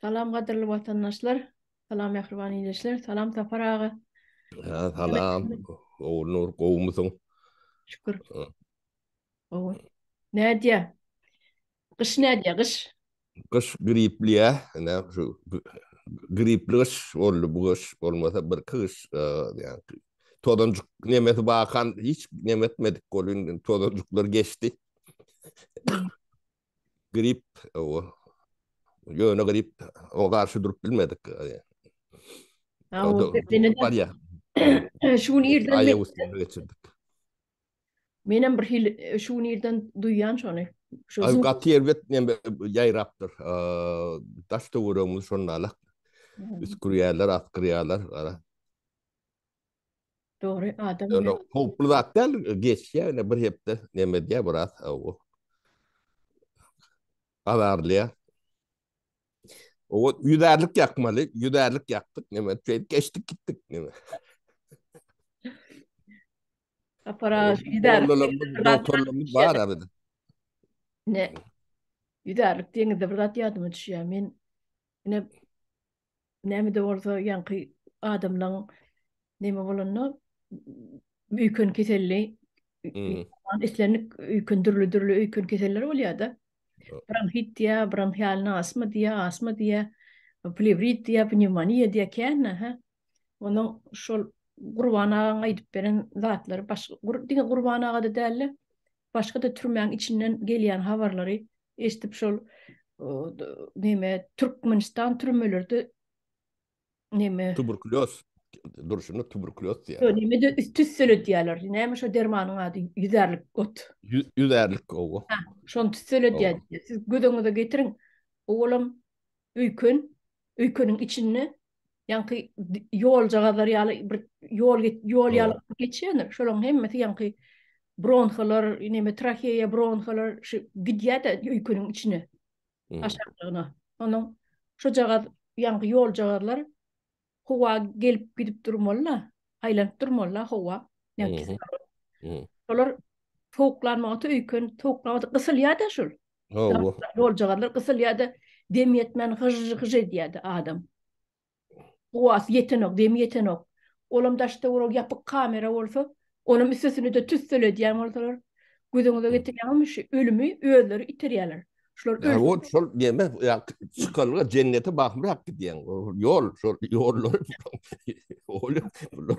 Salam gadyrly watandaşlar. Salam mähriban ildeşler. Salam Sapar aga. Salam. Gowy nur gowumysyň? Şükür. Gowy. Nädýä? Gyş nädýä? Gyş. Gyş gripli ýa. Näme şu gripli gyş boldy bu gyş bolmasa bir kış e, yani tozanjyk nemesi bakan hiç nemetmedik golun tozanjyklar geçdi grip o ýöne grip o garşy durup bilmedik. Bar ýa. Şu gün irden geçirdik. Men hem bir hil şu gün irden duýan şony. Şu gün gaty erbet men ýaýrapdyr. Daş töweregimiz şonda alak. Üskürýärler, atgyrýarlar. Dogry adam. Ýöne howply zat däl, geçýär ýöne bir hepde näme diýýär biraz o. Azarlyýa. O ýüzärlik ýakmaly, ýüzärlik ýakdyk, näme diýip geçdik gitdik näme. Aparat ýüzär. Doktorlarymyz bar arada. Ne? Ýüzärlik diýende bir zat ýadyma düşýär. Men ine Näme-de bolsa, ýaňky adamlaň neme bolanda, öýken keselli, islendik öýken, dürli-dürli öýken keseller bolýar-da. Bronhit diýýär, bronhialny astma diýýär, astma diýýär, plewrit diýýär, pnewmoniýa diýýär, kän-ä, hä. Onuň şol Gurban agaň aýdyp beren zatlary başga, diňe Gurban aga-da däl-de, başga-da türmäň içinden gelýän habarlary eşidip şol neme Türkmenistan türmelerde neme tuberkuloz durşuna tuberkuloz diýýär. Ýok, neme de tüssele diýýärler. Näme şo dermanyň ady? Ýüzärlik ot. Ýüzärlik owa. Şony tüssele diýýär. Siz gözüňize getiriň. Owalam öýken öýkeniň içinde ýaňky ýoljagazlar ýaly bir ýol ýol ýaly geçýändir. Şolaryň hemmesi ýaňky bronhalar, neme traheýa bronhalar şu gidýär-de öýkeniň içine. Aşaklygyna. Onuň şojagaz ýaňky ýoljagazlar howa gelip gidip durmaly-da, aýlanyp durmaly-da howa. Olar sowuklanmaga öýken sowuklanmaga gysylýar-da şol. Hawa. Ýoljagarlar gysylýar-da, dem ýetmän hyžžy-hyžžy edýär-de adam. Guwasy ýetenok, demi ýetenok. Olam daşda ol ýapyk kamera bolsa, onam üstesine-de tüsseledýän bolsalar, gözüňize getirýäňizmi, şu ölümi özleri iterýärler. Şular ölse. Hawa, şol deme, çykalga jennete bagymrak gidýäň. Ýol, şol ýollary. Olam bular.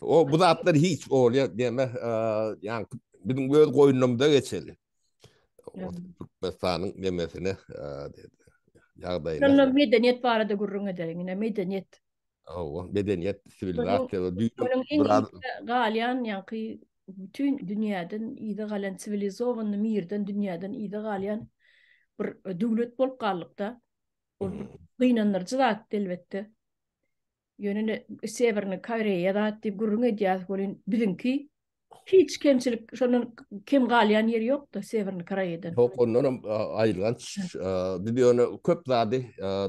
O bu zatlar hiç bolýar diýme, ýa biziň öz goýnumyza geçeli. Türkmenistanyň nemesine diýdi. Ýagdaýyna. Şonda medeniýet barada gürrüň ederiň, ine medeniýet. Hawa, medeniýet, siwilizasiýa we düýbüniň biraz galýan ýaňky bütün dünýäden ýygy galan siwilizowany mirden dünýäden ýygy galýan bir döwlet bolup galdykda. Gynandyryjy zat elbetde. Ýöne Sewernyý Koreýa zat diýip gürrüň edýäris welin biziňki hiç kemçilik şondan kem galýan ýeri ýokda Sewernyý Koreýadan. Ýok ondan hem aýylganç biz ýöne köp zady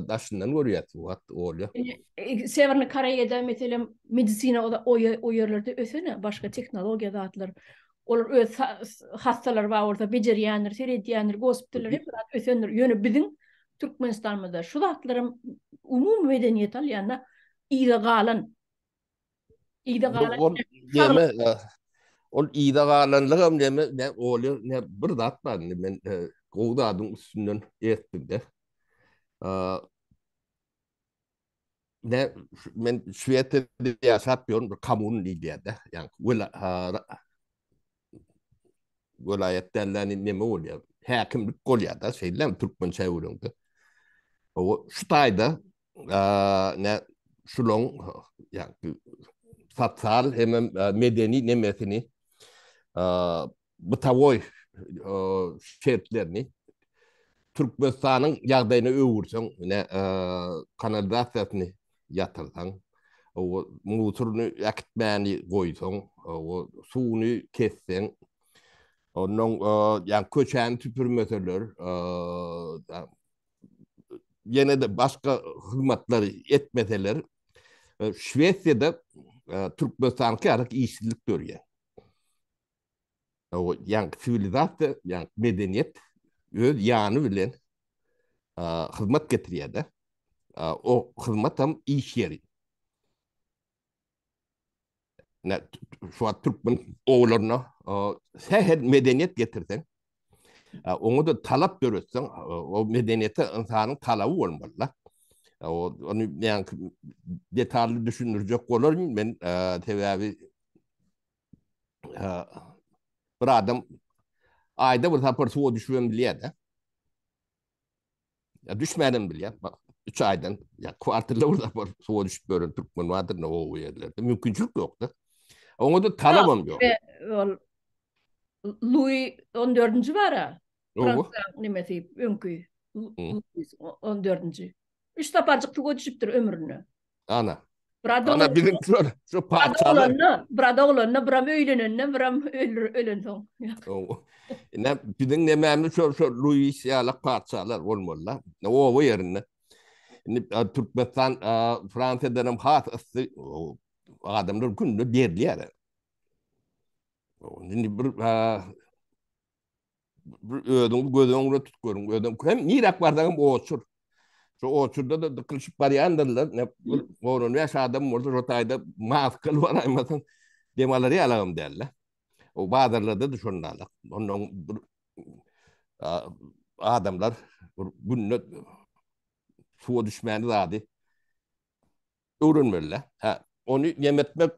daşyndan görýäs bu wagt bolýa. Sewernyý Koreýada meselem medisina o ýerlerde ösen-ä başga tehnologiýa zatlar Olar öz hassalary bar bolsa bejerýändir, seredýändir, gospitallary hemme zat ösendir. Ýöne biziň Türkmenistanymyzda şu zatlaram umumy medeniýete alýanda yza galan. Yza galan. Ol ýa galanlygam näme, näme bolýar, näme bir zat bar indi men e, gowy zadyň üstünden etdim-de. ne men Şwesiýada ýaşap ýörün bir kommun diýýärdi. Ýani wela welaýat dälläni neme bolýar? Häkimlik bolýar-da, şeýle türkmen çäwrinde. O şu taýda ne şulaň ýa sosial hem medeni nemesini bytawoý şertlerini Türkmenistanyň ýagdaýyna öwürseň, ine, kanalizasiýasyny ýatyrsaň, musuryny äkitmäni goýsaň, suwuny kesseň, onnoň, ýagny köçäni süpürmeseler, ýene-de başga hyzmatlary etmeseler, Şwesiýada Türkmenistanyňky ýaly işsizlik dörýär. O ýan siwilizasiýa, ýan medeniýet öz ýany bilen hyzmat getirýär-de. O hyzmat hem iş ýeri. Nä, şu wagt türkmen oglaryna sähel medeniýet getirseň, oňa-da talap döretseň, o medeniýete ynsanyň talaby bolmaly-da. Ony ýan detally düşündirjek bolaryn men, sebäbi bir adam ayda bir sapar suwa düşübem bilýär de. Ya düşmänem bilýär. Bak, üç aydan ya kwartalla bir sapar suwa düşüp gören türkmen vardyr ne o yerlerde. Mümkinçilik yok da. Ona da talabam yok. Louis 14-nji bara. Fransa nimesi öňki. 14-nji. Üç saparjyk suwa düşüpdir ömründe. Ana. Brada Ana biziň şol şu parçalar. Brada oglanyna, bram öýlenende, bram ölür ölen soň. Ne biziň nemämiz şol şol Luis ýaly parçalar bolmalylar. Ne oba ýerinde. Indi Türkmenistan Fransiýadan hem has ysy adamlar günde berilýär. Indi bir özüňi göz öňüne tutup görüň. Özüň hem nirak barsaňam oçur. Şu oçurda da dıkılşıp barýandyrlar. Ne gorun we adam bolsa şu taýda maskaly baraýmasaň dem alar ýalagam däl. O bazarlarda da şondalar. Ondan bir adamlar bir günde suwa düşmäni zady Öwrenmeli-dä. Hä, ony jem etmek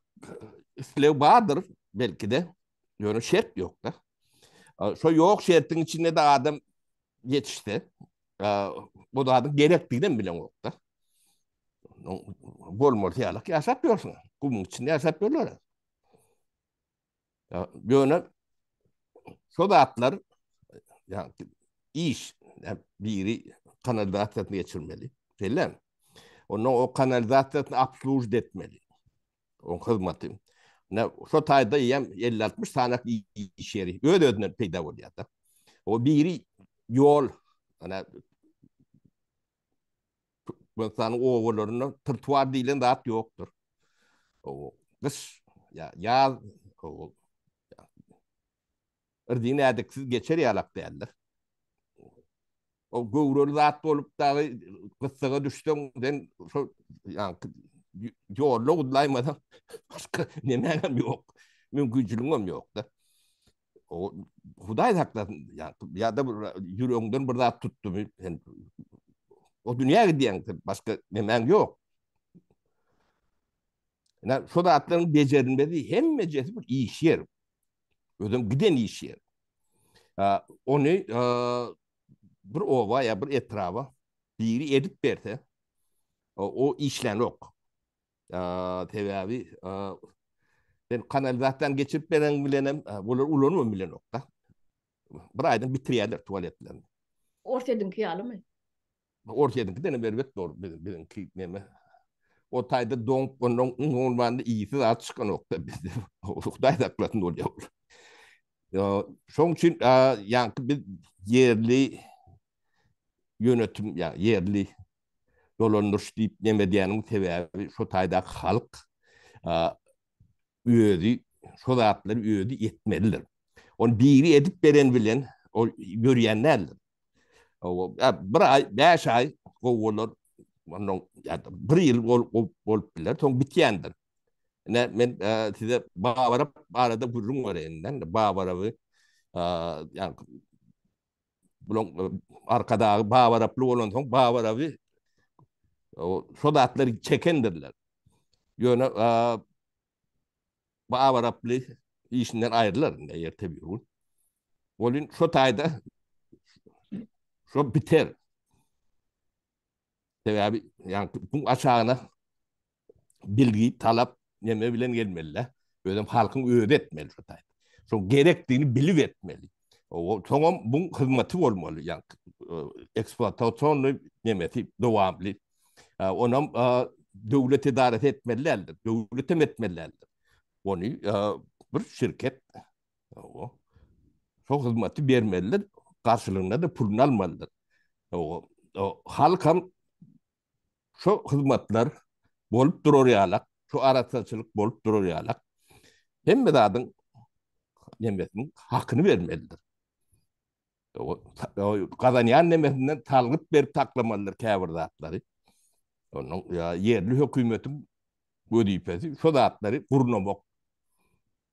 isleg bardyr, belki-de, ýöne şert ýok-da. Şo ýok şertiň içinde-de adam ýetişse, o zadyň gerekdiginem bileňok-da. Bolmaly ýaly ýaşap ýörsüň. Gumuň içinde ýaşap ýörler. Ýöne şo zatlar ýagny iş biri kanalizasiýasyny geçirmeli. Şeýle. Onda o kanalizasiýasyny obslužit etmeli. O hyzmaty. Ne şo taýda ýem 50-60 sanak iş ýeri öz özünden peýda bolýar da. O biri ýol ana Türkmenistanyň obalarynda trotuar diýlen zat ýokdur. O gyş ýa ýaz o Irdin ädiksiz geçer ýalak däldir. O göwreli zat bolup dagy gyssaga düşseň, sen şo ýaňky ýolda gudlaýmasaň, başga nemäňem ýok. Mümkinçiligiňem ýok-da. o Hudaý saklasyn ya ya da ýüregiňden bir zat tutdumy sen o dünýä gidýäň başga nemäň ýok Ina şu zatlaryň bejerilmesi hemmejesi bir iş ýer. Özüm giden iş ýer. Ony bir oba ýa bir etraba biri edip berse o işlän ok. Sebäbi sen kanalizasiýany geçirip beren bilenem olar ulanman bilenokda. Bir aýdan bitirýärler tualetlerini. Orsýetiňki ýalymy? Orsýetiňki dene berbet dor biziňki neme. O taýda doňup ondan ondan iýsi zat çykanokda bizde. Hudaý saklasyn bolýar. Şoň üçin ýaňky biz ýerli ýönetim ýa ýerli dolandyryş diýip neme diýeniň sebäbi şo taýdaky halk özi şo zatlary özi etmelidir. Ony biri edip beren bilen ol ýörýän däldir. Bir aý, bäş aý gowy bolar. Ondan bir ýyl gowy bolup biler, soň bitýändir. Ine men size Babaryp barada gürrüň bereýin-de. Babaryby ýa Bulaň arkadagy Babaraply bolansoň Babaraby şo zatlar çekendirler. Ýöne Babaraply işinden aýrylar indi ýerte bir gün. Bolin şo taýda şo biter. Sebäbi ýa bu aşagyna bilgi talap neme bilen gelmeli özüm halkyn özü etmeli şu taýda şu gerekdigini bilip etmeli soňam bu hyzmaty bolmaly ýa eksploatasionny nemesi dowamly onam döwlet edarasy etmeli däldir döwlet hem etmeli däldir ony bir şirket o şu hyzmaty bermelidir garşylygynda da puluny almalydyr o halkam Şo hyzmatlar bolup durar ýalak, şo arassaçylyk bolup durar ýalak, hemme zadyň nemesiniň hakyny bermelidir. Gazanýan nemesinden salgyt berip saklamalydyr käbir zatlary. Onuň ýerli hökümetiň wezipesi şo zatlary gurnamak.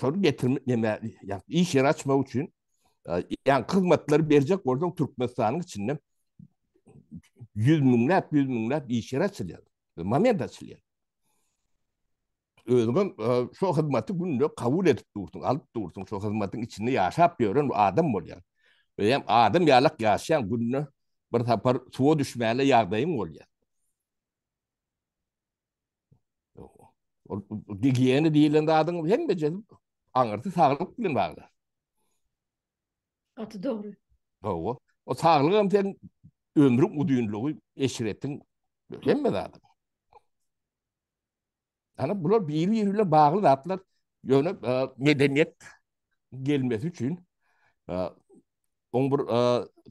Şol getirmek näme? Ýa iş ýeri açmak üçin ýa hyzmatlary berjek bolsaň Türkmenistanyň içinde 100 müňläp, 100 müňläp iş ýeri açylýar. Moment açylýar. Özüm şu hyzmaty günde kabul edip dursun, alyp dursun, şu hyzmatyň içinde ýaşap ýören adam bolýar. Öýem adam ýalak ýaşaýan günde bir sapar suwa düşmäle ýagdaýyň bolýar. Ol gigiýena diýilen zadyň hemmeje aňyrsy saglyk bilen bagly. Gaty dogry. Hawa. O saglyk hem sen ömrüň uzynlygy, eşretiň hemme zady. Ana bular biri-biri bilen bagly zatlar. Ýöne e, medeniýet gelmesi üçin e, oň bir e,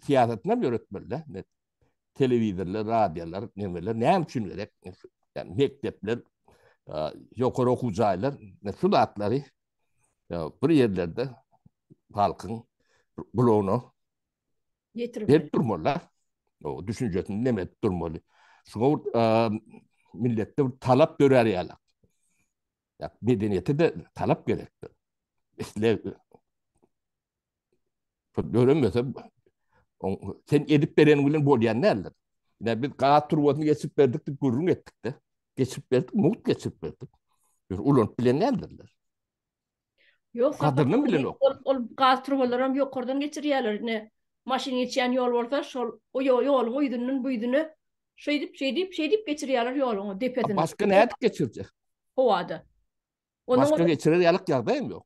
syýasatyny hem ýöretmeli. telewizorlar, radiolar, nemeler näme üçin gerek? Yani mekdepler, ýokary okuw jaýlar, şu zatlary bir ýerlerde halkyň gulagyna ýetirip durmalylar. O düşünjesini näme edip durmaly? Şuňa milletde bir talap dörär ýaly. Ýa medeniýete de talap gerekdir. Isleg Pul döremese, sen edip beren bilen bolýan näler. Ýa biz gaz turbasyny geçip berdik diýip gürrüň etdik-de. Geçip berdik, mugt geçip berdik. Ýör ulanyp bilen nälerler. Ýok, gadyryny bilen ok. Ol, ol gaz turbalary hem ýokardan geçirýärler. Ne maşyn geçýän ýol bolsa, şol o ýoluň o ýüzünden bu ýüzüne şeýdip, şeýdip, şeýdip geçirýärler ýoluň o depesini. Başga nädip geçirjek? Howada. Başga geçirer ýalyk ýagdaý hem ýok.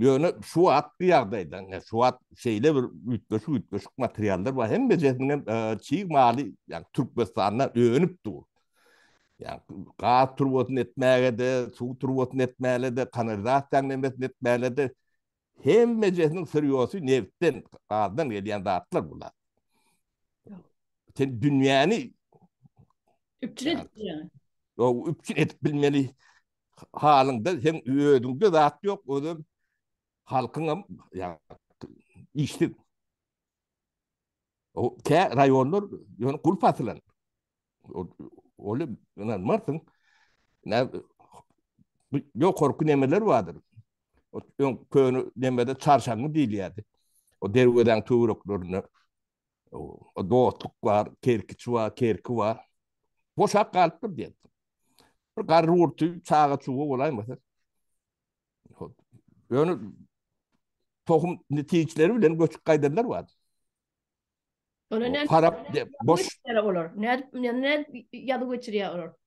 Ýöne şu wagtky ýagdaýda, şu wagt şeýle bir üýtgeşik-üýtgeşik materiallar bar, hemmejesiniň hem çig maly, ýagny Türkmenistanda önüp dur. Ýagny gaz turbasyny etmäge-de, suw turbasyny etmäge-de, kanalizasiýanyň hemmesini etmäge-de, hemmejesiniň syrýosy nebtden, gazdan gelýän zatlar bular. Sen dünýäni üpjün edip bilmeli. halyňda sen özüňde zat ýok, özüm halkyňam ýa işsiz. O kä raýonlar ýöne gul pasylan. Ol ýöne martyň nä ýok korku nemeler bardyr. O ýöne köne nemede çarşaňy diýilýärdi. O derwezäň töwreklerinde dostluk bar, kerkiç bar, kerki bar. Boşak galypdyr diýip. Bir garry urty çaga çuwa bolaýmasa. Ýöne tohum netijleri bilen göçüp gaýdanlar bar. Olar ne? Farap diýip, boş. Olar ne? Ne ýazyp geçirýär olar?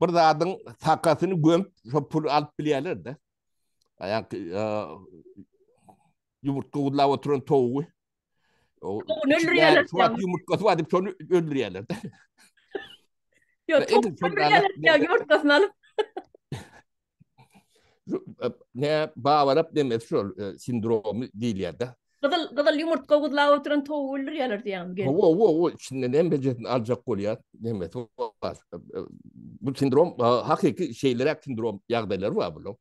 bir zadyň sakasyny gömüp, şo puly alyp bilýärler-de. Ýa-ki ýumurtga gudlap oturan towugy. Towuny öldürýärler. Suwat ýumurtgasy bar diýip, şony öldürýärler-de. Ýok, towuny öldürýärler, ýumurtgasyny alyp. ne bawarap demes şol e, sindromy diýilýärdi. Gyzyl gyzyl ýumurtga guzlap oturan towuk öldürýärler diýýän gelip. Wo wo wo içinden hem bejetini aljak bolýar. Demek bu sindrom hakyky şeýleräk sindrom ýagdaýlar bar bular.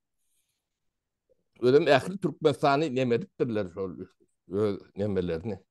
Özüm ähli Türkmenistany nemeripdirler şol öz nemelerini.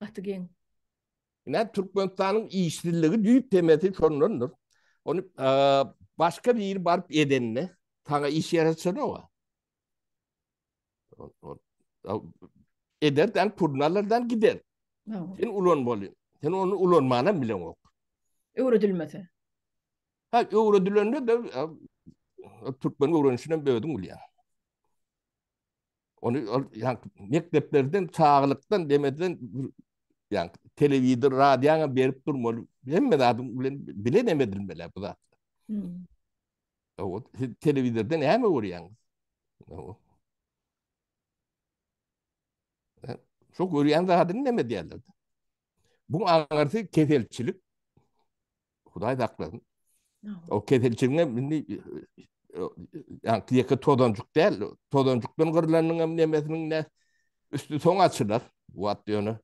Gaty geň. Ine Türkmenistanyň işsizligi düýp temesi şondandyr. Ony başga biri baryp edende saňa iş ýaraşanok. Eder dan purnalardan gider. Sen ulan bolýan. Sen ony ulanmana bilen ok. Öwredilmese. Ha, öwredilende de Türkmen öwrenişine bödüm bolýar. Ony yani mekdeplerden çaglykdan demeden yani telewizor radyoňa berip durmaly. Hemme zadyň bilen bilen hem edilmeli bu zat. Hmm. O telewizorda näme görýäňiz? O. Şu görýän zadyny näme diýerler? Bu aňyrsy keselçilik. Hudaý saklasyn. O keselçiligiň hem indi yani ýeke tozancuk däl, tozancukdan gyrlanyň hem nemesiniň ne üstü soň açylar. Bu wagt ýöne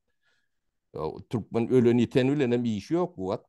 Türkmen ölen ýiten bilen hem işi ýok bu wagt.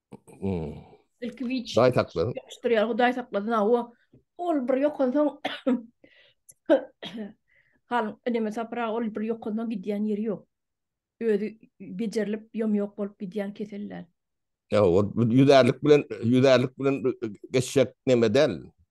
Ilki wiç. Daý saklasyn. Ýapyşdyrýar, Hudaý saklasyn. Awa, ol bir ýokansoň Halyň eneme sapra ol bir ýokansoň gidýän ýeri ýok. Özi bejerilip, ýom-ýok bolup gidýän kesel däl. Ýa, ol ýüzärlik bilen, ýüzärlik bilen geçjek neme däl.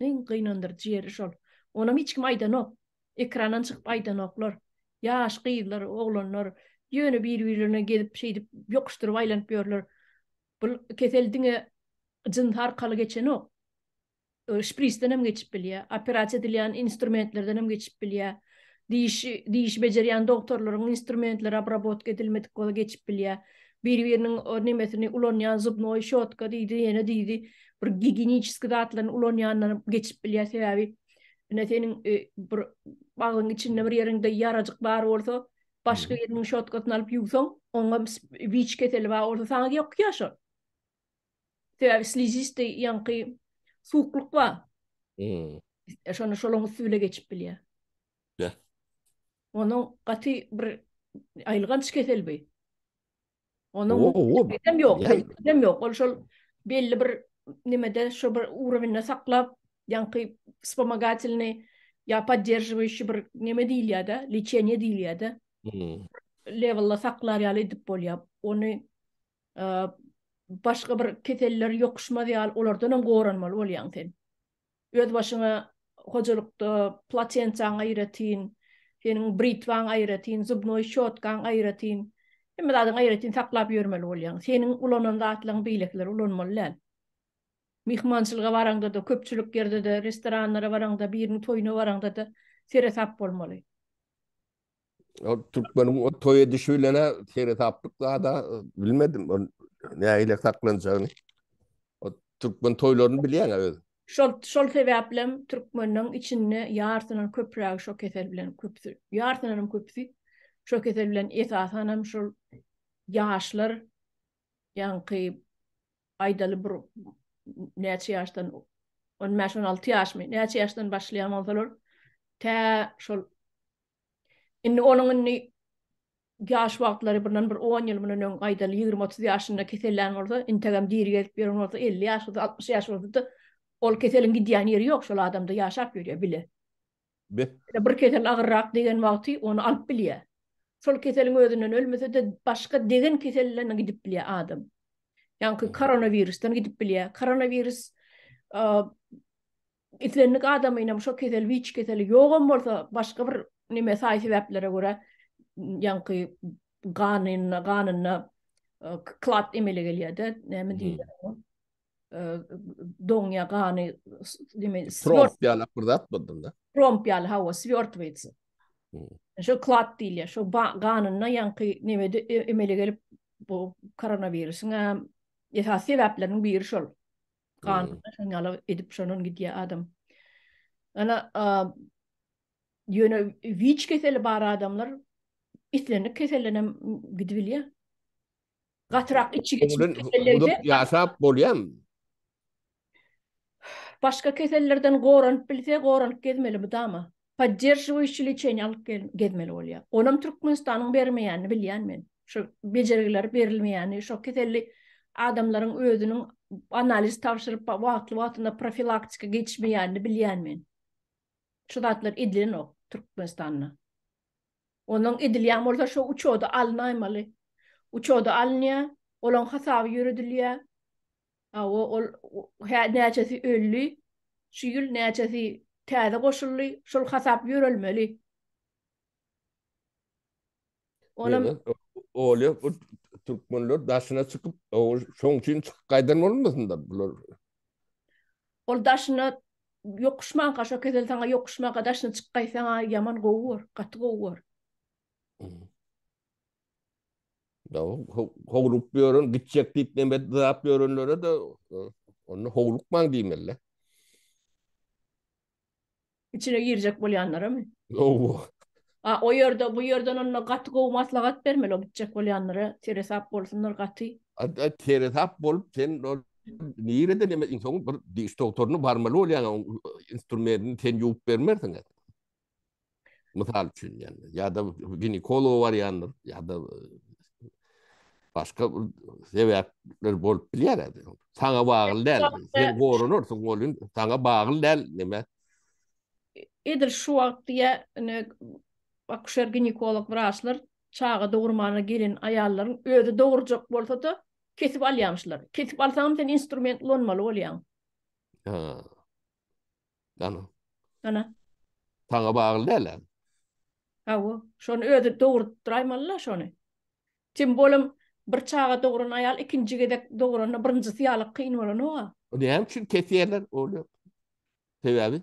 Iň gynandyryjy ýeri şol. Onam hiç kim aýdanok. Ekrandan çykyp aýdanoklar. Ýaş gyzlar, oglanlar ýöne bir-birlerine gezip şeýdip ýokuşdyryp aýlanyp ýörler. Bul kesel diňe jyns arkaly geçenok. Şprisden hem geçip bilýär. Operasiýa edilýän instrumentlerden hem geçip bilýär. Diş diş bejerýän dogtorlaryň instrumentleri obrabotka edilmedik bolsa geçip bilýär. biri-biriniň o nemesini ulanýan zubnoý şotka diýdi, ýene diýdi, bir giginiçeski zatlaryny ulanýandan geçip bilýär, sebäbi ine seniň bir agzyň içinde bir ýeriňde ýarajyk bar bolsa, başga biriniň şotkasyny alyp ýuwsaň, oňam wiç keseli bar bolsa saňa ýokýar şol. Sebäbi slizisty ýaňky suwuklyk bar. Şonda şolaň üsti bile geçip bilýär. Be. Onuň gaty bir aýylganç kesel bi. Onuň hem ýok, hem ýok. Ol şol belli bir nimede şu bir urovinde saklap, ýaňky spomagatilni ýa podderžiwiýşi bir nime diýilýär-de, liçeniýe diýilýär-de. Lewelda saklar ýaly edip bolýar. Ony başga bir keseller ýokuşmaz ýaly, olardan hem goranmaly bolýaň sen. Özbaşyňa hojalykda platensiýaň aýratyn, seniň britwaň aýratyn, zubnoý şotkaň aýratyn, hemme zadyňy aýratyn saklap ýörmeli bolýaň. Seniň ulanan zatlaryňy beýlekiler ulanmaly däl. Myhmançylyga baraňda-da, köpçülik ýerde-de, restoranlara baraňda, biriniň toýuna baraňda-da seresap bolmaly. O Türkmeniň o toy edişi bilene seretaplyk zada e, bilmedim. O näile saklanjagyny. O Türkmen toýlaryny bilýän öz. Şol şol sebäplem türkmeniň içinde ýarsynyň köprägi şo kesel bilen köpüsi. Ýarsynyň hem köpüsi şo kesel bilen esasan hem şol ýaşlar ýaňky aýdaly bir näçe ýaşdan 15-16 ýaşmy? Näçe ýaşdan başlaýan bolsalar tä şol Indi onuň indi ýaş wagtlary bundan bir on ýyl mundan öň gaýdal ýigrimi-otuz ýaşynda kesellän bolsa, integem diri gezip ýören bolsa, elli ýaşyda, altmyş ýaş bolsa-da, ol keseliň gidýän ýeri ýok, şol adamda ýaşap ýörýär bile. Be. Ýa-da bir kesel agyrrak degen wagty ony alyp bilýär. Şol keseliň özünden ölmese-de, başga degen keselden gidip bilýär adam. Ýaňky koronawirusdan gidip bilýär. Koronawirus Islendik adamynam şo kesel witç keseli ýogam bolsa başga bir neme saý sebäplere görä ýaňky ganyna ganyna klat emele gelýärde näme diýilýär oňa doňýa gany neme swort ýaly bir zat boldyňda tromp ýaly hawa swort witz şo klat diýilýär şo ganyna ýaňky neme emele gelip bu koronawirusyň esasy sebäpleriniň biri şol Ganyna şony ala edip şondan gidýär adam. Ana ýöne wiç keseli bar adamlar islendik keselden hem gidibilýär. Gatyrak içi geçip kesellerde ýaşap bolýarmy? Başga kesellerden goranyp bilse, goranyp gezmeli mydama. podderžiwiýşi liçeniýa alyp gezmeli bolýar. Onam Türkmenistanyň bermeýänini bilýän men. Şu bejergiler berilmeýäni, şo keselli adamlaryň özüniň analiz tabşyryp, wagtly-wagtynda profilaktika geçmeýänini bilýän men. Şu zatlar edilenok Türkmenistanda. Onuň edilýän bolsa şo uçoda alynaýmaly. Uçoda alynýar, olaň hasaby ýöredilýär. Hawa, ol hä näçesi öldi, şu ýyl näçesi täze goşuldy, şol hasap ýörelmeli. Onam Olýa bu türkmenler daşyna çykyp, şoň üçin çykyp gaýdan bolmasynlar bular. Ol daşyna ýokuşmanka, şo kesel saňa ýokuşmanka daşyna çykyp gaýtsaň, ýaman gowy bor, gaty gowy bor. Howlup ýören, gitjek diýip näme dap ýörenlere de onda howlukmaň diýmeli. İçine girjek bolýanlara mı? Owo. A o ýerde bu ýerden onda gaty gowy maslahat bermeli o gitjek bolýanlara, teresap bolsunlar gaty. Adda teresap bolup sen nirede neme insan bir diş doktoryna barmaly bolýan instrumentini sen ýuwup bermersiň. Mysal üçin ýani ýa-da ginekologa barýandyr ýa-da e, başga bir sebäpler bolup bilýär edi. Saňa bagly däl. Sen gorunursyň, golun saňa bagly däl näme? Edil şu wagt diýä, ine akuşer ginekolog wraçlar çaga dogurmana gelen aýallaryň özi dogurjak bolsa-da kesip alýamyşlar. Kesip alsaňam sen instrument ulanmaly bolýaň. Ha. Ana. Ana. Sana bagly däl-ä. Hawa, şony özi dogrudyp duraýmaly-la şony. Tim bolum bir çaga dogran aýal ikinji gezek dogranda birinjisi ýaly kyn bolanok-a. Näme üçin kesýärler ony? Sebäbi?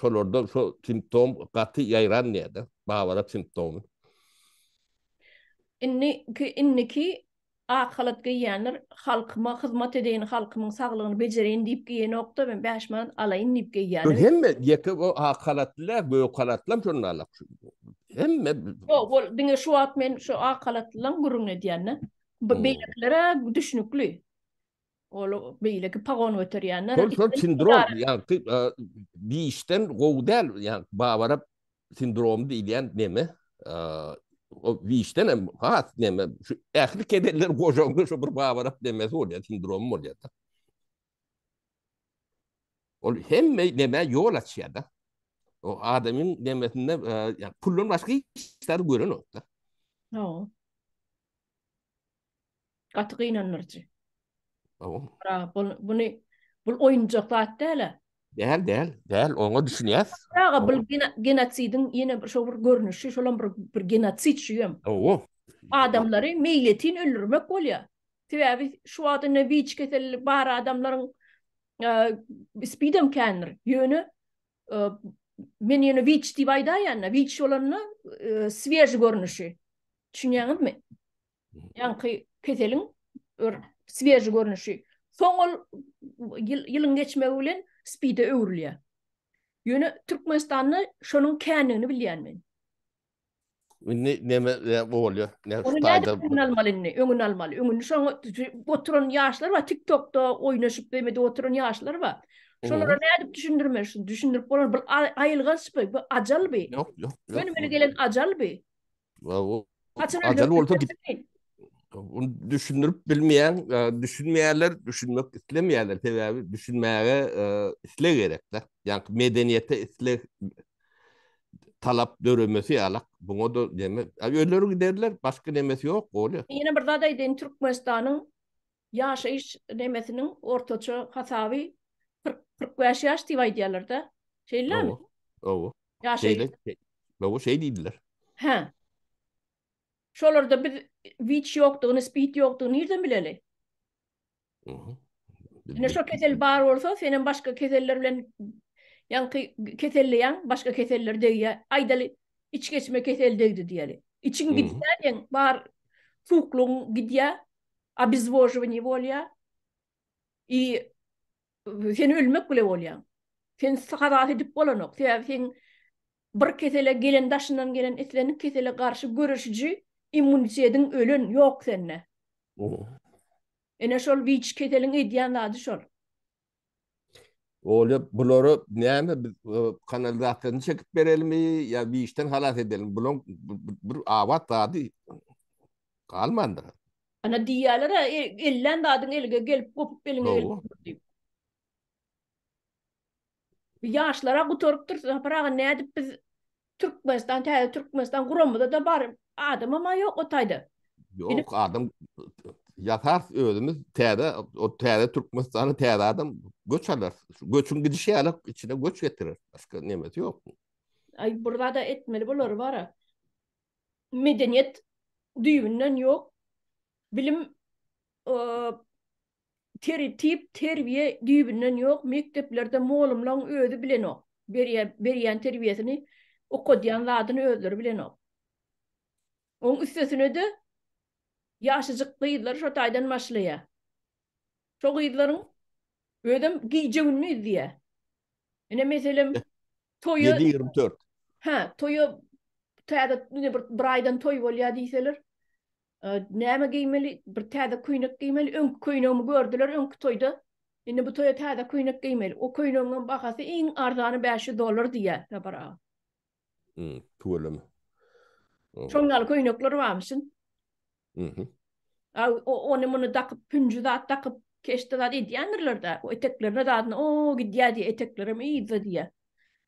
şolarda şo simptom gaty ýaýran diýýärdi, babara simptomy. Indiki indiki ak halat geýýänler halkyma hyzmat edeýin, halkymyň saglygyny bejereýin diýip geýenok-da, men bäş manat alaýyn diýip geýýäni. Hemme ýeke bu ak halatly däl, gök halatlam şonda alak. Hemme Ýok, ol diňe şu wagt men şu ak halatlylaň gürrüňini edýän-de. Beýlekilere düşnükli. Ol beýleki pagon göterýänler. Şol şol sindrom, ýagty biýişden gowy däl, ýagty bawara sindrom diýilýän neme, o biýişden hem has neme, şu ähli kedeller gojaňda şu bir bawara demesi bolýar, sindrom bolýar da. Ol hemme neme ýol açýar da. O adamyň nemesinde puldan başga hiç zat gören ýok da. Ýok. Gaty gynandyryjy. Ow. Ra, bul, buny, bul oýunjak zat däl-ä. Däl, däl, däl, oňa düşünýäs. Aga, bul gena, genosidiň ýene bir şo bir görnüşi, şolam bir, bir genosid şüýem. Ow. Adamlary meýletin öldürmek bolýar. Sebäbi şu wagt indi WIC keseli bar adamlaryň, e, SPID-em kändir. Ýöne, e, men ýöne WIC diýip aýdaýan-da, WIC bolanda, e, swieži görnüşi. Düşünýäňizmi? ýaňky keseliň bir swieži görnüşi. Soň ol ýylyň geçmegi bilen spide öwrülýär. Ýöne Türkmenistanda şonuň kändigini bilýän men. Indi näme bolýar? Näme faýda? Öňüni almaly indi, öňüni almaly. Öňüni şoňa oturan ýaşlar bar, TikTokda oýnaşyp beýmedi oturan ýaşlar bar. Şolara nädip düşündirme, düşündirip bolar. Bu aýylganç bu, bu ajal bu. Ýok, ýok. Öňüne gelen ajal bu. Ajal bolsa düşündirip bilmeýän, düşünmeýärler, düşünmek islemeýärler. Sebäbi düşünmäge isleg gerek-de. Ýa-da medeniýete isleg, talap döremesi ýaly. Buňa da deme. Özleri giderler, başga nemesi ýok, bolýar. Ýene bir zat aýdaýyn, Türkmenistanyň Ýaşaýyş nemesiniň ortaça hasaby kyrk, kyrk bäş ýaş diýip aýdýarlar-da. Şeýlemi? Owo. Ýaşaýyş. Owo, şeý diýdiler. Hä. Şolarda biz WIC ýokdugyny, SPID ýokdugyny nirden bileli? Oho. Ine şo kesel bar bolsa, sen hem başga keseller bilen ýaňky keselleýäň, başga keseller degýär. Aýdaly, içgeçme keseli degdi diýeli. Içiň gidýär diýen, bar suwuklygyň gidýär, Obezwojewaniýe bolýar. I sen ölmek bile bolýaň. Sen halas edip bolanok. Sebäbi sen bir kesele gelen daşyndan gelen islendik kesele garşy göreşiji immunitediň ölen, ýok sende. Ine şol witş keseliň edýän zady şol. Olya bulara näme biz e, kanalizasyýany çekip berelimi ýa işden halas edelim? Bulaň bir abat zady galmandyr. Ana diýýärler, e, ellän zadyň elge gelip, gopup eliňe gelip diýip. Ýaşlara gutarypdyr, Sapar aga nädip biz Türkmenistan täze Türkmenistan guramada da bar adamam a ýok o taýda. Ýok adam ýasar özümiz täze o täze Türkmenistana täze adam göç alar. Göçüň gidişi ýaly içine göç getirer. Başga nemesi ýok. Aý bir zada etmeli bular bar. Medeniýet düýbünden ýok. Bilim Tertip, terbiýe düýbünden ýok, mekdeplerde molumlaň özi bilenok, berýän berýän terbiýesini, okadýan zadyny özleri bilenok. Oň üstesine-de ýaşajyk gyzlar şo taýdan başlaýar. Şo gyzlaryň özem gije-gündiz diýýär. Ine meselem toýa Ýedi ýigrimi dört. Hä, toýa täze ine bir bir aýdan toý bolýar diýseler, Näme geýmeli? Bir täze köýnek geýmeli. Öňki köýnegimi gördüler öňki toýda. Indi bu toýa täze köýnek geýmeli. O köýnegiňem bahasy iň arzany bäş ýüz dollar diýýär Sapar aga. Hum, tüweleme. Şoň ýaly köýnekler barmyşyn. Mhm. A, ony-muny dakyp, pünji zat dakyp, keşde zat edýändirler-dä. O eteklerine zadyna o gidýär diýýär, eteklerem yzda diýýär.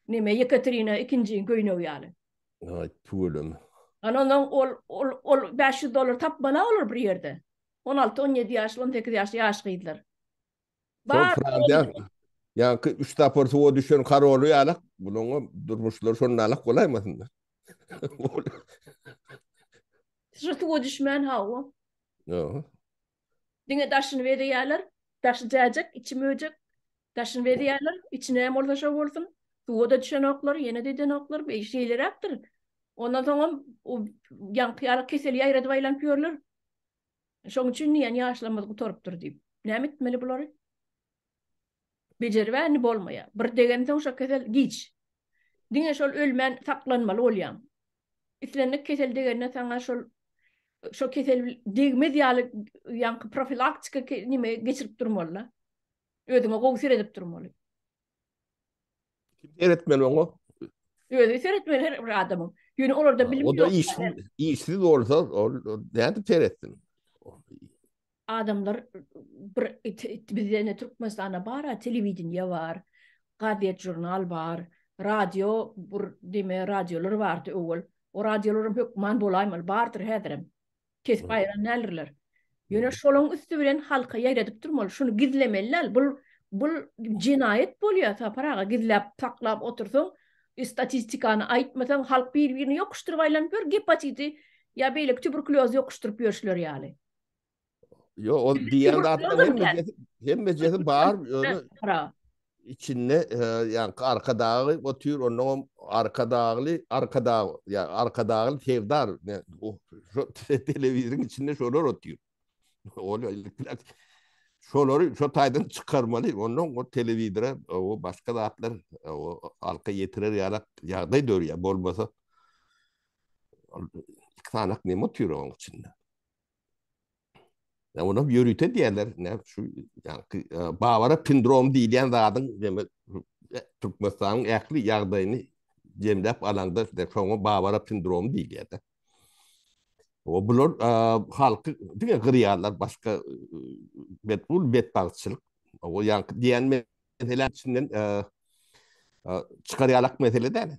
Neme, Ýekaterina ikinjiň köýnegi ýaly. Ay tüvelem. Ana ondan ol ol ol 500 dollar tapmana olar bir ýerde. 16-17 ýaşly, 18 ýaşly ýaş gyzlar. Bar. Ýa ki 3 tapar suwa düşen karoly ýalak, bunuň durmuşlary şonda alak bolaýmasynlar. Şu suwa düşmän hawa. Ýa. Diňe daşyny bezeýärler, daşy jäjek, içi möjek. Daşyny bezeýärler, içi näme bolsa şo bolsun. Suwa-da düşenoklar, ýene-de edenoklar, beý şeýleräkdir. Ondan soňam o ýaňky ýaly keseli ýaýradyp aýlanyp ýörler. Şoň üçin diýýän ýaşlarymyz gutarypdyr diýip. Näme etmeli bulary? Bejeribä indi bolmaýar. Bir degensoň şo kesel giç. Diňe şol ölmän saklanmaly bolýaň. Islendik kesel degende saňa şol şo kesel degmez ýaly ýaňky profilaktika neme geçirip durmaly-da. Özüňe gowy seredip durmaly. Kim seretmeli oňa? Özi seretmeli her bir adamyň. Ýöne olarda bilim ýok. O da işsiz, işsiz bolsa, ol nädip seretsin? Adamlar bir bizde ne Türkmenistanda bar, telewideniýe bar, gazet, žurnal bar, radio, bir deme radiolar bardy öwel. O radiolaryň hökman bolaýmaly, bardyr häzirem. Kesip aýran däldirler. Ýöne şolaň üsti bilen halka ýaýradyp durmaly, şuny gizlemeli däl. Bul bul jenaýat bolýar Sapar aga, gizläp saklap otursaň, statistikany aýtmasaň, halk bir-birini ýokuşdyryp aýlanyp ýör, gepatiti ýa beýleki tuberkulýozy ýokuşdyryp ýörşüler ýaly. Ýok, ol diýen zatlaryň hemmejesi bar, ýöne içinde e, yani arkadağı otur ondan arkadagly arkadag ya arkadagly sevdar ne o televizyonun içinde şolar otur. Ol şolary şu taydan çıkarmalı. Ondan o televizora o başka zatlar o alka yetirer yarak yağday dör ya bolmasa iki tane ne otur onun içinde. Ya ona yörüte diýerler, ne şu yani e, Bavara sindrom diýilýän zadyň demek e, Türkmenistanyň ähli ýagdaýyny jemläp alanda işte şoňa Bavara sindromy diýilýär de. O bular e, halky diňe gyrýarlar başga e, bet bul betbagtçylyk. O ýa diýen meselä içinden e, e, çykarýarlyk mesele däl.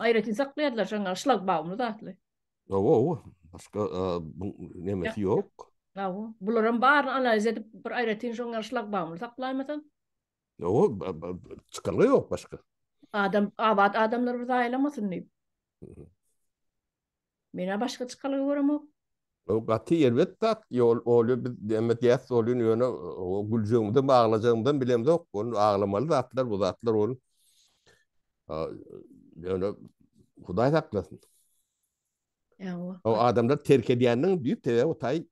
Aýratyn saklaýarlar şaňa şlagbaumly zatly. Owo, owo. Başga nemesi ýok. Owo. Bularam baryny analiz edip bir aýratyn şoňa şlagbaumly saklaýmasaň. Owo, çykalga ýok başga. Adam, abat adamlar bir zaýalamasyn diýip. Menä başga çykalga göremok. O gaty erbet zat, ýol olýa biz näme diýäs bolýun ýöne o güljegimizem aglajagymyzam bilemzok, ony aglamaly zatlar bu zatlar ony ýöne hudaý saklasyn. Ýa-wa. O adamlar terk edýändiň düýp sebäbi o taý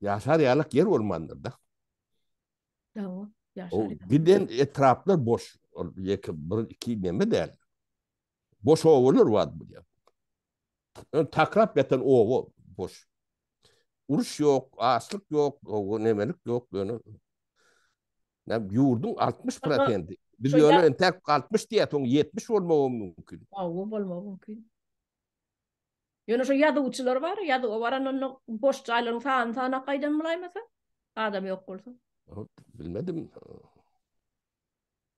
ýaşar ýalyk ýer bolmandyr da. Ýa-wa. O giden etraplar boş, ol ýeke bir iki näme däl. Boş obalar bar bu ýerde. Ön takrap ýatan oba boş. Uruş ýok, açlyk ýok, nemelik ýok ýöne. Näm ýurduň 60%. Biz ýöne entek 60 diýýäs, oň 70 bolmagy mümkin. Hawa, bolmagy mümkin. Ýöne şu ýazuwçylar bar, ýazuwa baran onda boş jaýlaryň sanyny sanap gaýdan bolaýmasa, adam ýok bolsa. Bilmedim.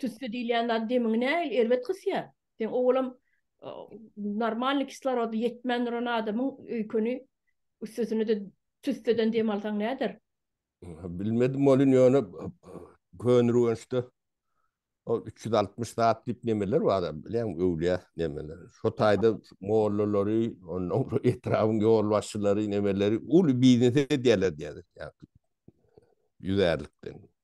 Tüsse diýilýän zat demiňi nähili erbet gysýar. Sen owalam normalny kislorody ýetmän duran adamyň öýkeni üstesine-de tüsseden dem alsaň näder? Bilmedim welin ýöne gönürgençde ol üç ýüz altmyş zat diýip nemeler bar, bilýäňmi, öwlüýä nemeler. Şo taýda mollalary, onnoň soň etrabyň ýolbaşçylary nemeleri uly biznes edýärler diýýärler ýüzärlikden.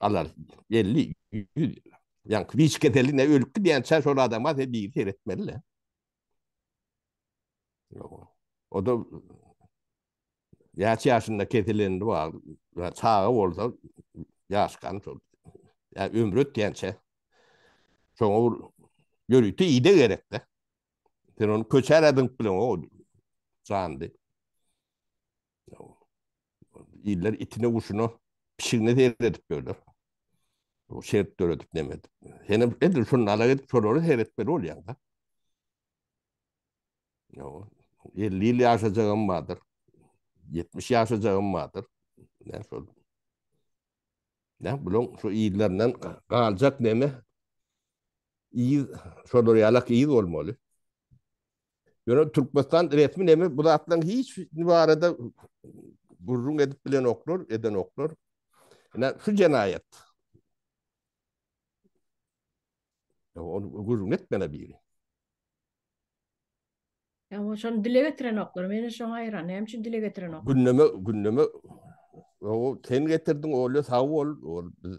Alar, elli, ýüz. Ýaňky wiç keseline ölüp gidýänçä şol adama sen biri seretmeli-le. O-da näçe ýaşynda keselende bar, çaga bolsa ýaşkan şol. Ýa ömri ötýänçä şoňa bir ýörite ide gerek-de. Sen ony köçä-ä zyňyp bileňok o jandy. Iller itine, guşuna, pişigine seyredip dörler. O şert döredip nemet. Hene edil şunu ala gidip şoları seyretmeli olýan da. Yo, 50 ýyl ýaşajagym bardyr. 70 ýaşajagym bardyr. Ne şol. Ne bulaň şu illerinden galjak neme? Ýyl şolar ýalak ýyl bolmaly. Ýöne Türkmenistan resmi neme bu zatlaryň hiç biri barada gürrüň edip bilen oklar, eden oklar. Ine şu jenaýat. Ony gürrüň etmene biri. Ya o şonu dile getiren oklar. Meni şoň aýran. Näme üçin dile getiren oklar? Gündeme, gündeme o sen getirdiň, oly sag bol. Ol biz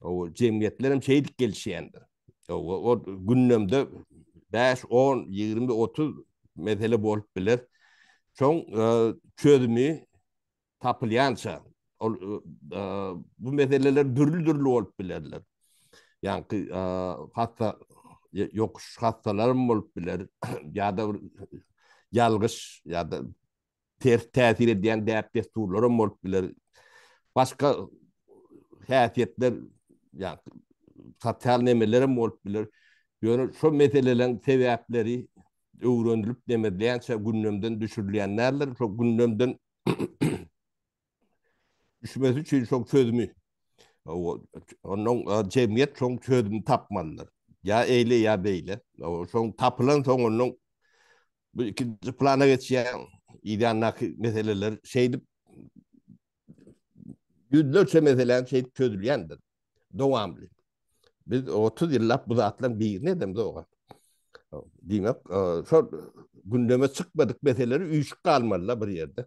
O jemgyýetler hem şeýdip gelişýändir. O, o gündemde 5, 10, 20, 30 mesele bolup biler. Şoň e, çözümi tapylýança ol e, e, bu meseleler dürli-dürli bolup bilerler. Ýaňky e, hassa ýokuş hassalarym bolup biler ýa-da ýalgyş ýa-da ters täsir edýän däp-dessurlar hem bolup biler. Başga häsiýetler, ýagny sosial nemeler hem bolup biler. Ýöne şol meseleleriň sebäpleri öwrenilip, demedilýänçä gündemden düşürilýän däldir. Şol gündemden düşmesi üçin şol çözümi ondan cemiyet şol çözümi tapmalydyr. Ya eyle ya beyle. Son tapılan son onun bu ikinci plana geçýän idandaki meseleler şeydip yüzlerçe meselen şeydip çözülýändir. Dowamly. Biz 30 yıllap bu zatlan birini edemiz oga. Diýmek, şol gündeme çykmadyk meseleleri üýşüp galmalylar bir ýerde.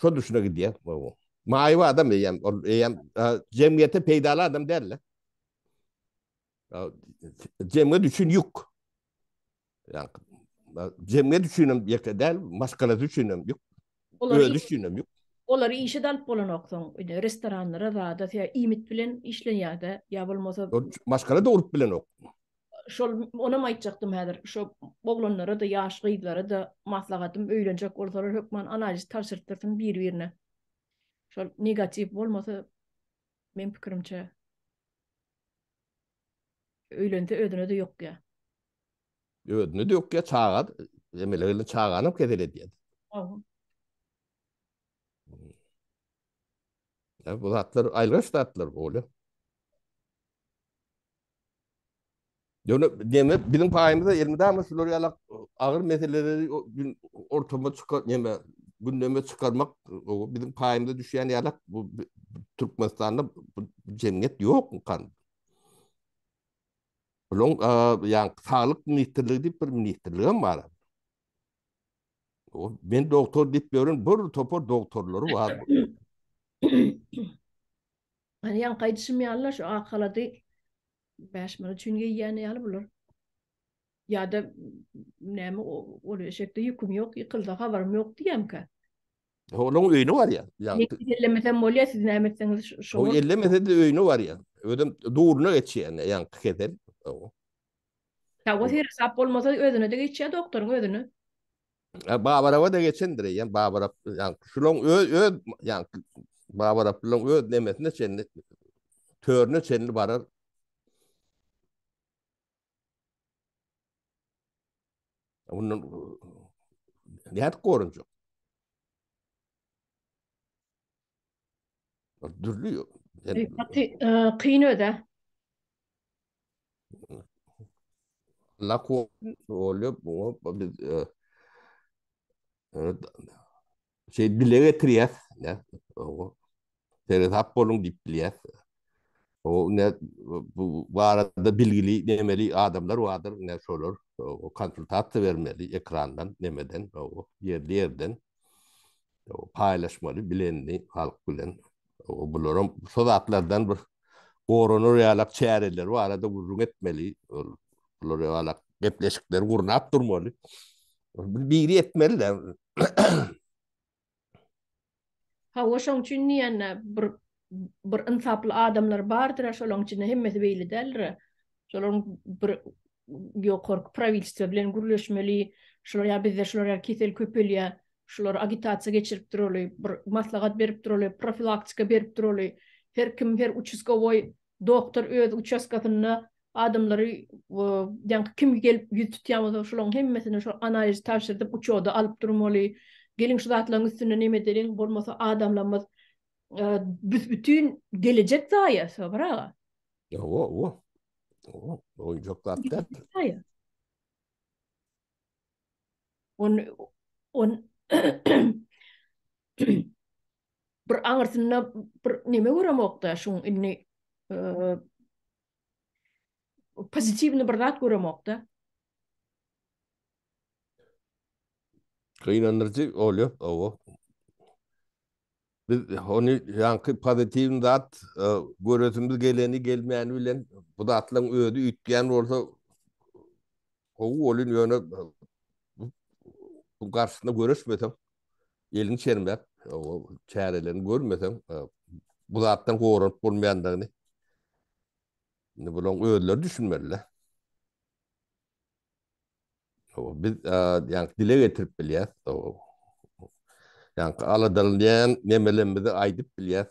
Şo düşüne gidýär. Maýyp adam eýem, ol eýem jemgyýete peýdaly adam däl. Jemgyýet üçin ýük. Ýa jemgyýet üçin hem ýeke däl, maşgalasy üçin hem ýük. Özi üçin hem ýük. Olar işe dalyp bolanoksoň, öýde restoranlara zada söýä iýmit bilen işleýärdi. Ýa bolmasa maşgala dogrup bilenok. şol onam aýtjakdym häzir şo oglanlara da ýaş gyzlara da maslahatym öýlenjek bolsalar hökman analiz tabşyrtdyrsyn bir birine şol negatiw bolmasa men pikirimçe öýlense özüne de ýok ya özüne de ýok ya çaga emele gelin çagany kesel edýär Ya bu zatlar aýlyş zatlar bolýar. Ýöne neme biziň paýymyza elmydama şular ýalak agyr meseleleri gün ortama çykar neme gündeme çykarmak biziň paýymyza düşýän ýalak bu Türkmenistanda bu jemgyýet ýok kan. Buluň ýa saglyk ministrligi diýip bir ministrlik hem bar. O men doktor diýip ýören bir topar doktorlary bar. Hany ýaňky aýdyşym ýaly-la şu ak halady bäş manat üçin geýýän ýaly bular. Ýa-da näme ol eşekde ýüküm ýok, ýykylsa habarym ýok diýýämkä. Onuň öýüne barýar. Ýagny ellemesem bolýar, siz näme etseňiz şo. Ellemese-de öýüne barýar. Özem duruna geçýär ýaňky kesel. Ýa o seresap bolmasa özüne-de geçýär doktoryň özüne. Ýa Babaraba-da geçendir eýýäm Babarap ýa şulaň öz öz ýa Babaraplylaň öz nemesine çenli törüne çenli barar. Ondan nädip gorunjak? Dürli yok. Kyn öde. Allah ko oluyor bu biz e, e, şey dile getirýär. Seret hap bolun diýip bilýär. O ne bu barada bilgili demeli adamlar vardyr ne şolar o konsultasiýa bermeli ekrandan nemeden o ýerli ýerden o paýlaşmaly bilenini halk bilen o bularam şu zatlardan bir goranar ýalak çäreler barada gürrüň etmeli bular ýalak gepleşikler gurnap durmaly biri etmeli Hawa şoň üçin diýende bir bir ynsaply adamlar bardyr şolaň içinde hemmesi beýle däldir şolaň bir ýokarky prawilstwo bilen gürleşmeli şular ýa bizde şular ýa kesel köpelýä şular agitasiýa geçirip duraly bir maslahat berip duraly profilaktika berip duraly her kim her uçuskowoý Doktor öz uçastkasynda adamlary ýaňky kim gelip ýüz tutýan bolsa şolaň hemmesine şol analizi tabşyrdyp uçoda alyp durmaly. Geliň şu zatlaň üstünde neme edeliň bolmasa adamlarymyz büsbütin gelejek zaýa Sabyr aga. Owo owo. Owo oýjak zat däl. On on bir aňyrsynda bir neme göremokda şuň indi pozitiwny bir zat göremokda. Gynandyryjy bolýa, owo. Biz ony ýaňky pozitiwny zat göresimiz geleni gelmäni bilen bu zatlaryň özi üýtgän bolsa Gowy bolýun ýöne bu garşysyna görüşmeseň, elini çermäp, o çärelerini görmeseň, bu zatdan goranyp bolmaýandygyny indi bularyň özleri düşünmeliler. Biz ýa dile getirip bilýäs. Ýa-da aladalanyň nemelerimizi aýdyp bilýäs.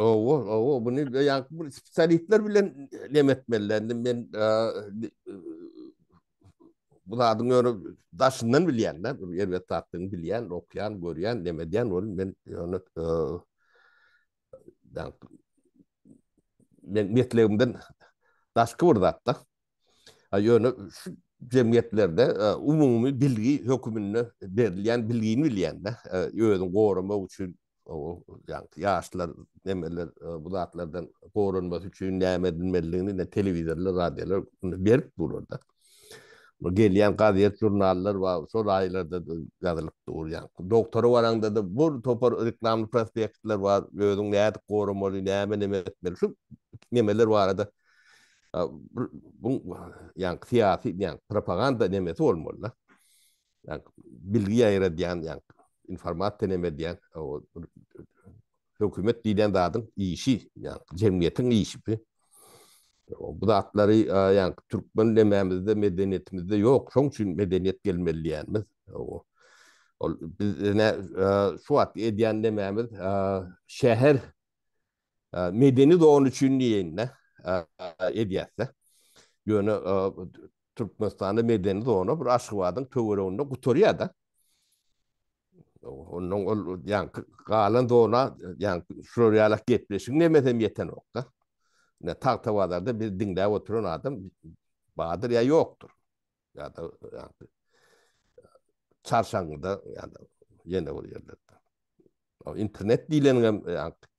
Owo, owo, bunu ýa bir spesialistler bilen nem etmeliler. Indi men bu zadyň öňe daşyndan bilýän, da, bir ýer wetapdyny bilýän, okýan, görýän, nem edýän, ol men ýöne ýa men metlegimden daşky bir zat, da. A ýöne şu jemgyýetlerde umumy bilgi höküminde berilýän bilgini bilýän, da, özüni goramak üçin ýaňky ýaşlar, nemeler e, bu zatlardan goranmasy üçin näme edilmelidigini ne telewizorlar, radiolar berip durarda. Bu gelýän gazet, žurnallar we şol aýlarda ýazylyp dur. Ýaňky doktora baranda da bu topar reklamly prospektler we özüň näde goramaly, näme näme etmeli şu nemeler barada e, bu ýaňky syýasy, ýaňky propaganda nemesi bolmaly. ýa bilgi ýaýradýan ýa informasiýa näme edýän hökümet diýen zadyň işi ýa jemgyýetiň işi bu zatlary ýa türkmen nämämizde medeniýetimizde ýok şoň üçin medeniýet gelmeli diýýänmiz ol biz şu wagt edýän nämämiz şäher Medeni zona üçin diýende edýärse. Ýöne Türkmenistanda medeni zona bir Aşgabadyň töwereginde gutarýar-da. Ondan ol ýaňky galan zona ýaňky şular ýaly gepleşigiň nemesem ýetenokda. Ine Tagtabazarda biz diňläp oturan adam bardyr ýa ýokdur. ýa-da ýagny çarşaňňyda ýa-da ýene bir ýerlerde. O internet diýleniň hem ýagny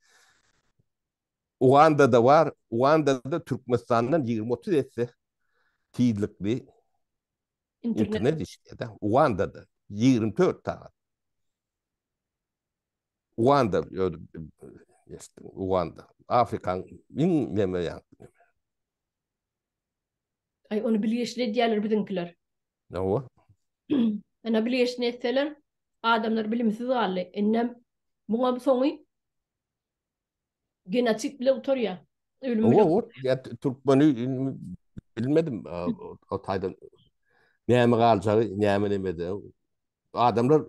Ugandada bar, Ugandada Türkmenistandan 20-30 esse tizlikli internet işledi. Ugandada 24 saat. Uganda, Uganda, Afrikan iň neme ýagny. Ay onu bilgeşli edýärler biziňkiler. Hawa. Ana bilgeşli etseler adamlar bilimsiz galdy. Innem muňam soňy genotip bile utarýar. Ölüm bile. Hawa, ya Türkmeni bilmedim o taýdan. Näme galjagy, näme nemede. Adamlar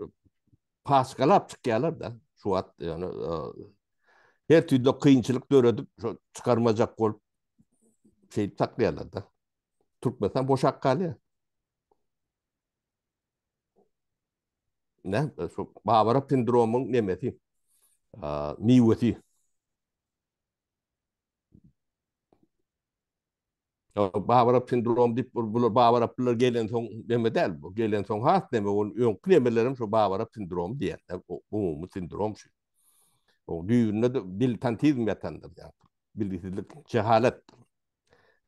paçgalap çykýarlar-da, şu wagt ýöne her türlü kynçylyk döredip, şo çykarmajak bolup şeýdip saklaýarlar-da. Türkmenistan boşap galýar. Ne, şu Bawara sindromyň nemesi, miwesi. Babarap sindrom dip bular babaraplar gelen soň deme däl bu. Gelen soň has deme ol öňki nemelerim şu babarap sindrom diýen. Umumy sindrom şu. O düýbünde de dil tantizm ýatandyr ýa. Bilgisizlik, jehalat.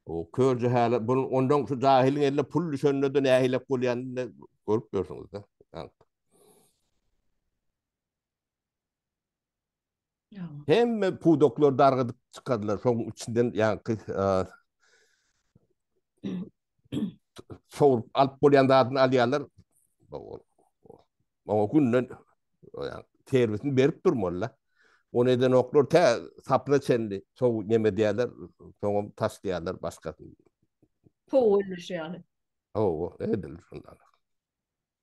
O kör jehalat bu ondan şu jahiliň eline pul düşende de nähilek bolýanyny görüp ýörsüňiz de. Hemme pudoklar dargadyp çykardylar. Şoň içinden ýaňky sorup alyp bolýan zadyny alýarlar. Oňa günden serwisini berip durmalylar. Ony eden oklar tä sapna çenli sow neme diýerler, soňam taş diýerler başgasyny. Sow ölüşýär. Ow, edilir şundan.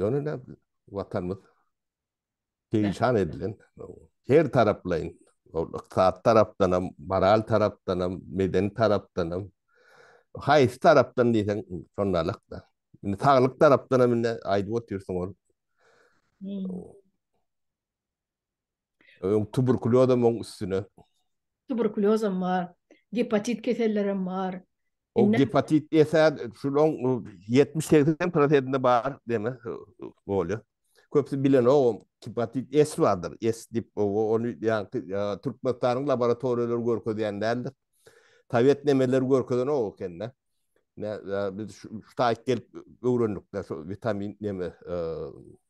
Ýöne näme biziň Watanymyz perişan edilen, her taraplaýyn, ol ykdysady tarapdan hem, moral tarapdan hem, medeni tarapdan hem, haýsy tarapdan diýseň şondalyk-da. Indi saglyk tarapdan hem indi aýdyp otyrsyň ol. Öň tuberkuliozam oň üstüne. Tuberkuliozam bar, gepatit kesellerem bar. O gepatit esa şunuň 70-80 prosentinde bar deme bolýar. Köpsi bilenogam gepatit S bardyr. S dip o ony ýaňky Türkmenistanyň laboratoriýalary görkezýän däldir. Sowet nemeleri görkezenok ekende. Ne biz şu taýyk gelip öwrendik-de şu witamin neme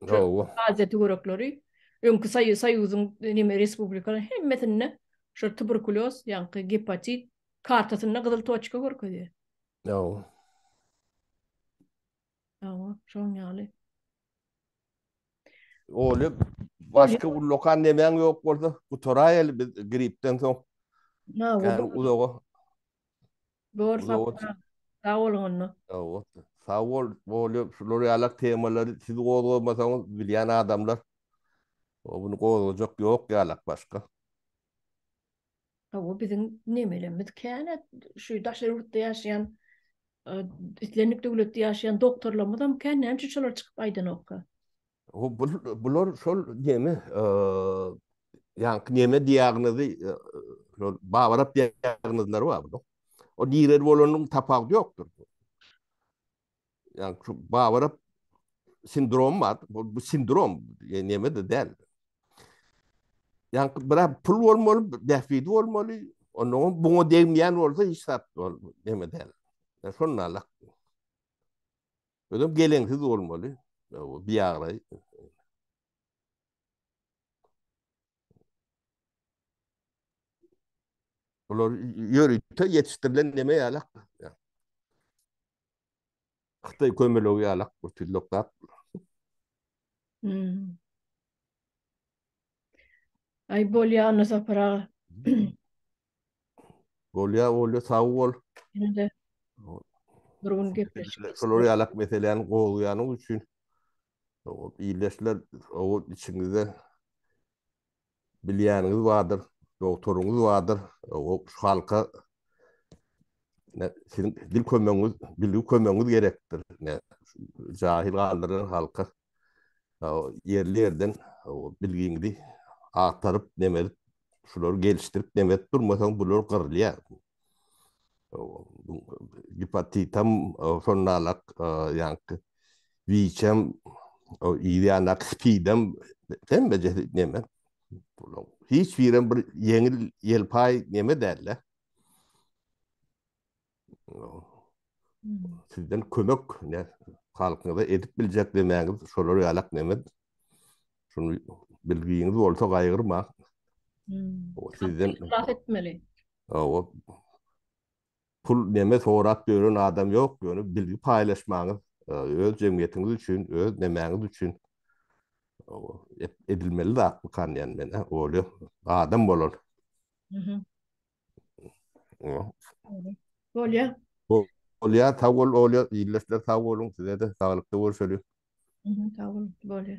Bravo. Aziýa töwerekleri öňki soýuzyň neme respublikalarynyň hemmesinde şol tuberkulýoz, ýaňky gepatit kartasynda gyzyl toçka görkezýär. Bravo. Bravo, şoň ýaly. Oly başga ullakan nemäň ýok bolsa gutaraýaly biz gripden soň. Bravo. Uzaga. Dogry sapar sag boluň onda. Sag bol bolýa şular ýalak temalary siz gozgamasaňyz bilýän adamlar muny gozgajak ýok ýalak başga. Hawa biziň nemelerimiz kän şu daşary ýurtda ýaşaýan islendik döwletde ýaşaýan doktorlarymyzam kän näme üçin şolar çykyp aýdanokka. Bular şol neme, ýaňky neme diýagnozy, şol babarap diýagnozlary bar bular. O nirede bolanyň tapawudy ýokdur. Ýaňky şu babarap sindrom bar. Bu sindrom neme-de däl. Ýaňky biraz pul bolmaly, bähbidi bolmaly. Ondan buňa degmeýän bolsa hiç zat neme däl. Şonda alak. Özüm geleňsiz bolmaly. Bir ýagra. Bular ýörite ýetişdirilen neme ýalak. Hytaý kömelegi ýalak bu tillokap. Hmm. Ay bolýa Anna Sapar aga. Bolýa bolýa sag bol. Indi bir gün gepleşik. Şolar ýalak meseläni gozýanyň üçin ildeşler o içiňizde bilýäniňiz bardyr, doktoryňyz bardyr, o şu halka siziň dil kömegiňiz, bilgi kömegiňiz gerekdir. Ne jahil galdyran halka ýerli ýerden bilgiňizi agtaryp neme edip şulary gelişdirip neme edip durmasaň bular gyrylýar. Gepatitam şonalak ýaňky wiçem ýanak spidem hemme jesi neme bular hiç birem bir ýeňil ýelpaý neme däl-de. sizden kömek ne halkyňyza edip biljek demäňiz şolar ýalak nemet şunu bilgiňiz bolsa gaýgyrma hmm. sizden ihlaf etmeli o pul neme sorap ýören adam ýok ýöne bilgi paýlaşmaňyz e, öz jemgyýetiňiz üçin öz nemäňiz üçin edilmeli zat bu kan ýan men e, oly adam bolan mhm. Bolýa. Bolýa, sag bol, bolýa. Ýyldyzlar sag boluň, size-de saglykda görşeliň. Sag boluň, bolýa.